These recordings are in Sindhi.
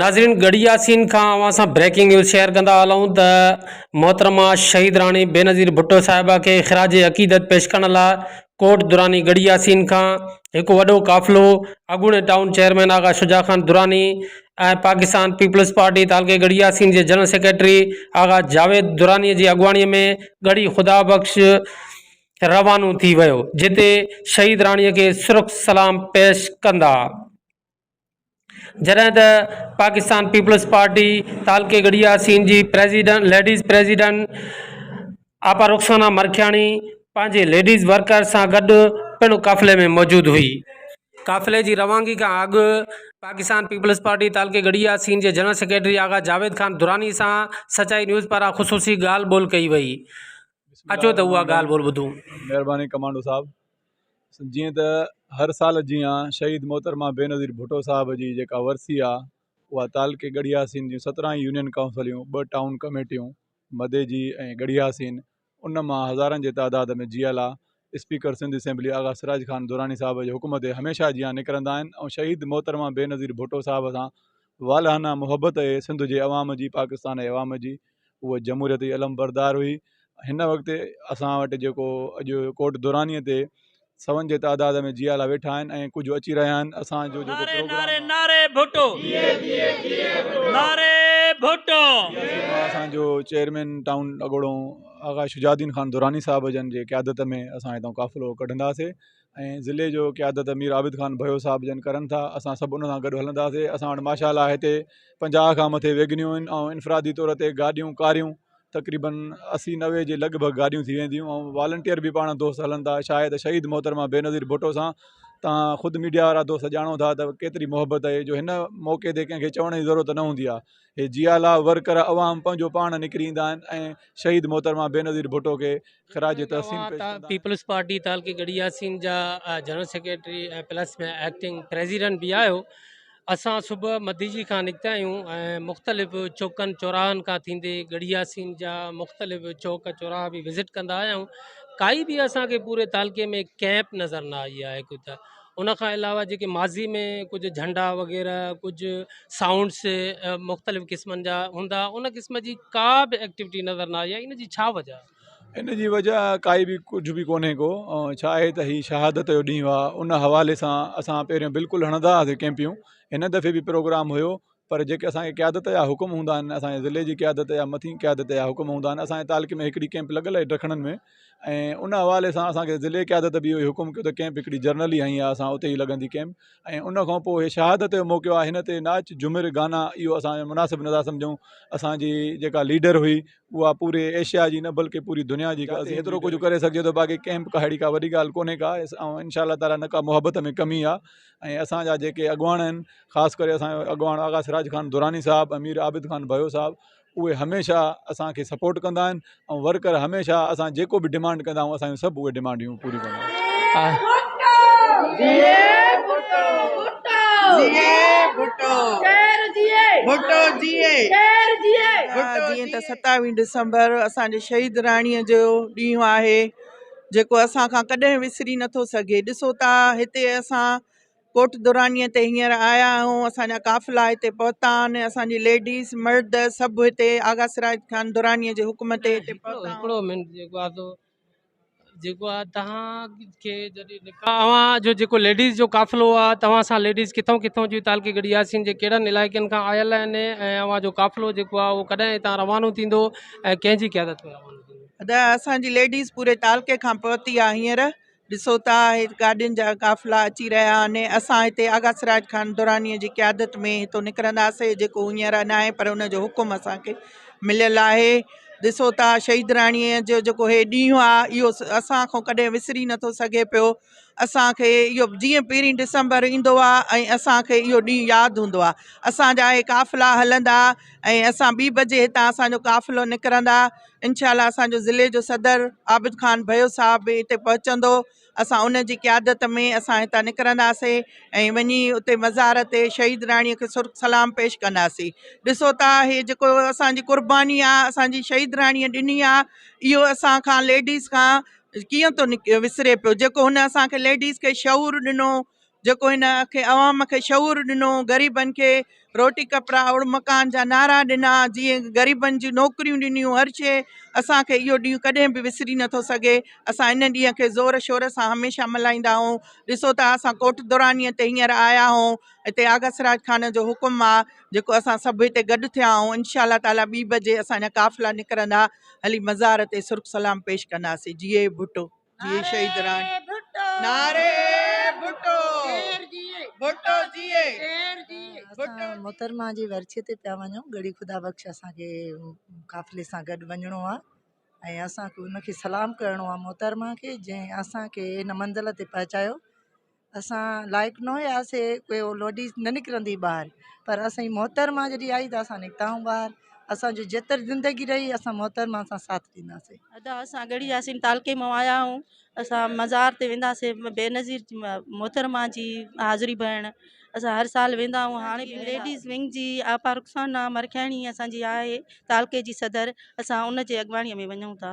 ناظرين گڙھي ياسين کان اوھان سان بريڪنگ نيوز شيئر ڪندا ھلون ته محترمه شھيد راڻي بينظير ڀٽو صاحبه کي خراج عقيدت پيش ڪرڻ لاء ڪوٽ دراني گڙھي ياسين کان ھڪ وڏو قافلو اڳوڻي town chairman Agha Shuja Khan Durrani ۽ Pakistan peoples party تعلقي ڳڙهي ياسين جي جنرل سيڪريٽري آغا جاويد دراني جي اڳواڻي ۾ ڳڙهي خدا بخش روانو ٿي ويو جتي شهيد راڻي کي سرخ سلام پيش ڪندا جڏهن ته پاڪستان پيپلز پارٽي تعلقي ڳڙهي ياسين جي president ladies president Apa Rukhsana Markhiani پنهنجي ليڊيز ورڪرز سان گڏ پڻ قافلي ۾ موجود هئي. قافلي جي روانگي کان اڳ پاڪستان پيپلز پارٽي تعلقي ڳڙهي ياسين جي جنرل سيڪريٽري آغا جاويد خان دراني سان سچائي نيوز پاران خصوصي ڳالهه ٻولهه ڪئي وئي. اچو ته اها ڳالهه ٻولهه ٻڌون. مهرباني ڪمانڊو صاحب جيئن ته هر سال جيان شهيد محترمه بينظير ڀٽو صاحب جي جيڪا ورسي آ اها تعلقي ڳڙهي ياسين جون سترهن يونين ڪائونسليون ٻه ٽائون ڪميٽيون مدي جي ۽ ڳڙهي حسين ان مان هزارن جي تعداد ۾ جيئل آ اسپيڪر سنڌ اسيمبلي آغا سراج خان دراني صاحب جي حڪم تي هميشه جيان نڪرندا آهن ۽ شهيد محترمه بينظير ڀٽو صاحب سان والهانه محبت اهي سنڌ جي عوام جي پاڪستان جي عوام جي هوء جمهوريت جي علمبردار هئي هن وقت اسان وٽ جيڪو اڄ ڪوٽ دراني تي سون جي تعداد ۾ جيالا ويٺا آهن ۽ ڪجهه اچي رهيا آهن اسان جو جيڪو پروگرام آهي نعري ڀٽو نعري ڀٽو اسان جو چيئرمين ٽائون اڳوڻو آغا شجاع الدين خان دراني صاحب جن جي قيادت ۾ اسان هتان قافلو ڪڍنداسي ۽ ضلعي جو قيادت مير عابد خان بهيو صاحب جن ڪرن ٿا اسان سڀ ان سان گڏ هلنداسي اسان وٽ ماشاء الله هتي پنجاهه کان مٿي ويگنيون آهن ۽ انفرادي طور تي گاڏيون ڪاريون تقريبن اسي نوي جي لڳ ڀڳ گاڏيون ٿي وينديون ۽ والنٽيئر به پاڻ دوست هلن ٿا شايد شهيد محترمه بينظير ڀٽو سان تان خود ميڊيا وارا دوست ڄاڻو ٿا ته ڪيتري محبت آهي جو هن موقعي تي ڪنهن کي چوڻ جي ضرورت نه هوندي آهي هي جيالا ورڪر عوام پنهنجو پاڻ نڪري ايندا آهن ۽ شهيد محترمه بينظير ڀٽو کي خراج تحسين پيش ڪندا. پيپلز پارٽي تعلقي ڳڙهي ياسين جا general secretary ۽ plus ۾ acting president به آهيو اسان صبح مديجي کان نڪتا آهيون ۽ مختلف چوڪن چوراهن کان ٿيندي ڳڙهي ياسين جا مختلف چوڪ چوراها به وزٽ ڪندا آهيون ڪائي به اسان کي پوري تعلقي ۾ ڪيمپ نظر نه آئي آهي ڪو ته ان کان علاوه جيڪي ماضي ۾ ڪجهه جهنڊا وغيره ڪجهه سائونڊس مختلف قسمن جا هوندا ان قسم جي ڪا به ايڪٽيوٽي نظر نه آئي آهي ان جي ڇا وجهه آهي ان جي وجهه ڪائي به ڪجهه به ڪونهي ڪو ڇا آهي ته هي شهادت جو ڏينهن هئا ان حوالي سان اسان پهريون بلڪل هڻندا هئاسين ڪيمپيون هن دفعي به پروگرام هيو پر جيڪي اسان جي قيادت جا حڪم هوندا آهن اسان جي ضلعي جي قيادت يا مٿين قيادت جا حڪم هوندا آهن اسان جي تعلقي ۾ هڪڙي ڪئمپ لڳل آهي ڊکڻن ۾ ۽ ان حوالي سان اسان کي ضلعي قيادت به اهو حڪم ڪيو ته ڪئمپ هڪڙي جرنل ئي هنئي اسان اتي ئي لڳندي ڪئمپ ۽ ان کان پوء شهادت جو موقعو آهي هن تي ناچ جهمر گانا اهو اسان جو مناسب نظر سمجهون اسان جي جيڪا ليڊر هئي اها پوري ايشيا جي نه بلڪه پوري دنيا جي ڪا هيترو ڪجهه ڪري سگهجي ٿو باقي ڪئمپ ڪا ههڙي ڪا وڏي ڳالهه ڪونهي ڪا ان شاء الله تعاليٰ نه ڪا محبت ۾ ڪمي آهي ۽ اسان جا جيڪي اڳواڻ آهن خاص ڪري اسان جو اڳواڻ آغا سراج خان دراني صاحب امير عابد خان بيو صاحب اهي هميشه اسانکي سپورٽ ڪندا آهن ۽ ورڪر هميشه اسان جيڪو به ڊمانڊ ڪندا آهيون اسان جون سڀ اهي ڊمانڊيون پوريون ڪندا آهن جيڪو اسان کان ڪڏهن وسري نٿو سگهي ڏسو ته هتي اسان ڪوٽ درانيء تي هينئر آيا آهيون اسان جا قافلا هتي پهتا آهن اسان جي ليڊيز مرد سڀ هتي آغا سراج خان درانيء جي حڪم تي هتي پهتا آهن هڪڙو منٽ جيڪو آ سو جيڪو آ توهان کي جڏهن نڪاح اوهان جو جيڪو ليڊيز جو قافلو آ توهان سان ليڊيز ڪٿون ڪٿون جون تعلقي گڙي ياسين جي ڪهڙن علائقن کان آيل آهن ۽ اوهان جو قافلو جيڪو آ اهو ڪڏهن هتان روانو ٿيندو ۽ ڪنهن جي قيادت ۾ روانو ٿيندو ادا اسان جي ليڊيز پوري تعلقي کان پهتي آ هينئر ڏسو ٿا گاڏين جا قافلا اچي رهيا آهن اسان هتي آغا سراج خان دراني جي قيادت ۾ هتو نڪرنداسي جيڪو هينئر نه آهي پر ان جو حڪم اسان کي مليل آهي ڏسو ٿا شهيد راڻي جو جيڪو هي ڏينهن آ اهو اسان کان ڪڏهن وسري نٿو سگهي پيو اسان کي اهو جيئن پهرين ڊسمبر ايندو آ ۽ اسان کي اهو ڏينهن ياد هوندو آ اسان جا اهي قافلا هلندا ۽ اسان ٻي بجي هتان اسان جو قافلو نڪرندا انشاء الله اسان جو ضلعي جو صدر عابد خان ڀيو صاحب به هتي پهچندو اسان ان جي قيادت ۾ اسان هتان نڪرنداسي ۽ وڃي اتي مزار تي شهيد راڻي کي سرخ سلام پيش ڪنداسي ڏسو ٿا هي جيڪو اسان جي قرباني آ اسان جي شهيد راڻي ڏني آ اهو اسان کان ليڊيز کان ڪيئن ٿو نڪ وسري پيو جيڪو هن اسانکي ليڊيز کي شعور ڏنو جيڪو هن کي عوام کي شعور ڏنو غريبن کي روٽي ڪپڙا اوڙ مڪان جا نعرا ڏنا جيئن غريبن جي نوڪريون ڏنيون هر شي اسانکي اهو ڏينهن ڪڏهن به وسري نٿو سگهي اسان ان ڏينهن کي زور شور سان هميشه ملهائيندا آهيون ڏسو ته اسان ڪوٽ دورانيء تي هينئر آيا آهيون هتي آغا سراج خان جو حڪم آهي جيڪو اسان سڀ هتي گڏ ٿيا آهيون انشاء الله تعالا ٻي بجي اسانجا قافلا نڪرندا هلي مزار تي سرخ سلام پيش ڪنداسين جيئي ڀٽو جيئي شهيد ران نعري ڀٽو ڀٽو جيئي اسان محترمه جي ورسي تي پيا وڃون ڳڙهي خدا بخش اسان کي قافلي سان گڏ وڃڻو آ ۽ اسان کي ان کي سلام ڪرڻو آ محترمه کي جنهن اسان کي ان منزل تي پهچايو اسان لائق نه هياسي ڪي هو لوڊيز نه نڪرندي ٻاهر پر اسانجي محترمه جڏي آئي ته اسان نڪتاهون ٻاهر اسانجو جيتري زندگي رهي اسان محترمه سان ساٿ ڏينداسين ادا اسان ڳڙهي ياسين تعلقي مان آيا آهيون اسان مزار تي وينداسين بينظير محترمه جي حاضري بهڻ اسان هر سال ويندا آهيون هاڻي به ليڊيز ونگ جي آپا رخسانا مرکياڻي اسانجي آهي تعلقي جي صدر اسان ان جي اڳواڻي ۾ وڃون ٿا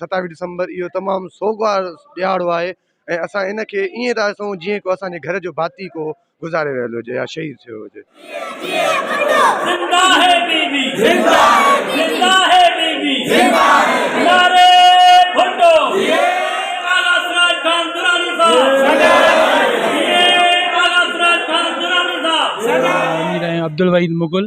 ستاويهه ڊسمبر اهو تمام سوگوار ڏهاڙو آهي ۽ اسان ان کي ائين ٿا ڏسون جيئن ڪو اسان جي گهر جو ڀاتي ڪو گذاري ويل هجي يا شهيد ٿيو هجي. مير ۽ عبدالوحيد مغل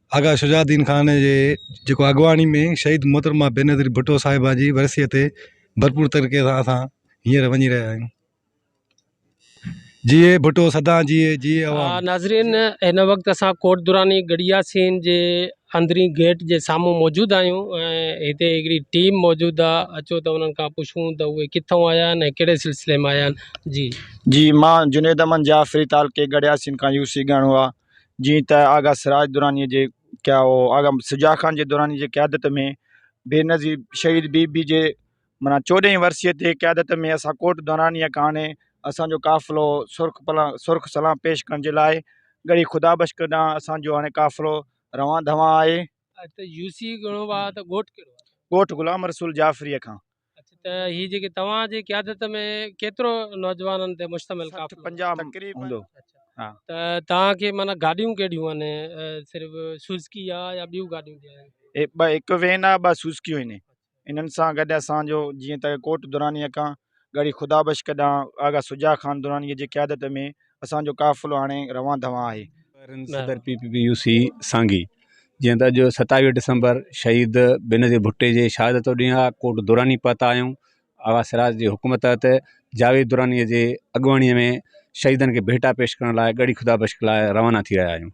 آغا شجاع الدين خان جي جيڪو اڳواڻي ۾ شهيد محترمه بينظير ڀٽو صاحبه جي ورسيء تي ڀرپور طريقي سان اسان هينئر وڃي رهيا آهيون جيئي ڀٽو سدا جيئي جيئي عوام ناظرين هن وقت اسان ڪوٽ دراني گڙيا سين جي اندرين گيٽ جي سامهون موجود آهيون ۽ هتي هڪڙي ٽيم موجود آ اچو ته انهن کان پڇون ته اهي ڪٿون آيا آهن ۽ ڪهڙي سلسلي ۾ آيا آهن جي جي مان جنيد احمد جعفري تعلقي گڙيا سين کان يو سي ڳاڻو آ جيئن ته آغا سراج درانيء جي ڪيا هو آغا شجاع خان جي دراني جي قيادت ۾ بينظير شهيد بي بي جي معنيٰ چوڏهين ورسيء تي قيادت ۾ اسان ڪوٽ درانيء ڪاڻي اسان جو قافلو سرخ پلا سرخ سلام پيش ڪرڻ جي لاء ڳڙهي خدا بخش ڪن ڏانهن اسان جو هاڻي قافلو روان ڌوان آهي. ڳوٺ غلام رسول جعفريء کان اچ ته هي جيڪي توهان جي قيادت ۾ ڪيترو نوجوانن تي مشتمل سٺ قافلو پنجاهه تقريبن هوندو ها ته توهان کي معنيٰ گاڏيون ڪهڙيون آهن صرف سوزڪي آ يا ٻيون گاڏيون به آهن. اهي ٻه هڪ وين آهي ٻه سوزڪيون آهن انهن سان گڏ اسان جو جيئن ته ڪوٽ درانيء کان ڳڙهي خدا بخش ڪڏهن آغا شجاع خان درانيء جي قيادت ۾ اسان جو قافلو هاڻي روان دوان آهي. صدر P P P U C سانگي جيئن ته اڄ ستاويهه ڊسمبر شهيد بينظير ڀٽي جي شهادت جو ڏينهن آهي ڪوٽ دراني پهتا آهيون آغا سراج جي حڪم تحت جاويد دراني جي اڳواڻي ۾ شهيدن کي ڀيٽا پيش ڪرڻ لاء ڳڙهي خدا بخش لاء روانا ٿي رهيا آهيون